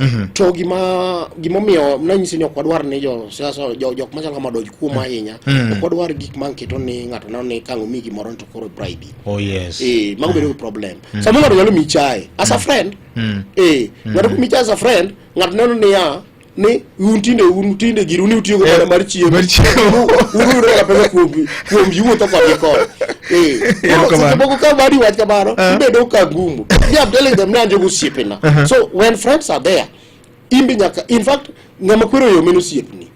Mm -hmm. To gima gima omiyo nanyisi ni ok wadwar ni jo siasa jo jok machal kama doj kuom mhm. ahinya mm -hmm. ok wadwar gik ma nketo ni ng'ato neno ni kang' omi gimoro to koro bribe. Oh yes. Eh, mago bedo gi problem. Mm -hmm. Samoro ng'ato nyalo miyi chae as a mhm. friend. Mm -hmm. Eh, mhm. ng'ato miyi chae as a friend, ng'ato neno ni ya ni un tinde un tinde gir un utiyo go mar chiemo. Mar chiemo. Uru uru pesa kuomi. kuom yuotho kodgi koni Eh, Ero koro kamano. seche moko ka mari wach kamano ibedo ka gumu me am telling them ni an jogo osiepena so when friends are there imbe nyaka in fact ng'ama kwero yo men osiepni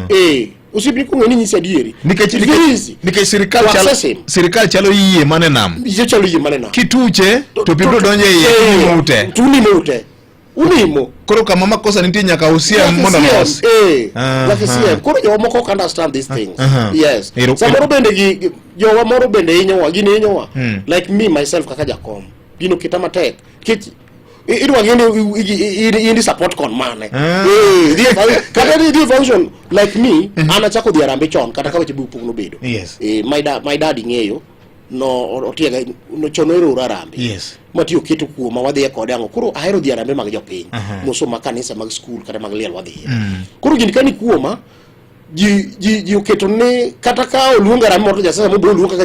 eh osiepni kong'e ni nyisi adieri nikech It's very easy. nikech- nikech sirikal To chalo assess him. sirikal chalo yie mane nam Ichalo yie manena kituche to pi biro donjo e iye imo ute tunimo ute ulimo koro kama makosa nitie nyaka usia mondo mos eh nyaka usia koro jo moko can't understand these things uh -huh. yes samoro bende gi jowa moro bende hinyowa gin hinyowa hmm. like me myself kaka jakom gino kita matek kech idwa ng'e ni in support kon mane ah. eh, kata ni function like me mm-hmm. an achako dhi arambe chon kata ka weche bi pok nobedo eh, my daddy ng'eyo no otiega no chono ero rarambe yes mati oketo kuoma wadhi e kode ango koro ahero dhi arambe mag jopiny uh -huh. moso ma kanisa mag skul kata mag liel wadhi mm. koro gini kani kuoma ji ji ji oketo ne kata ka oluonga rambe moto jasasa mo bo luonga kaka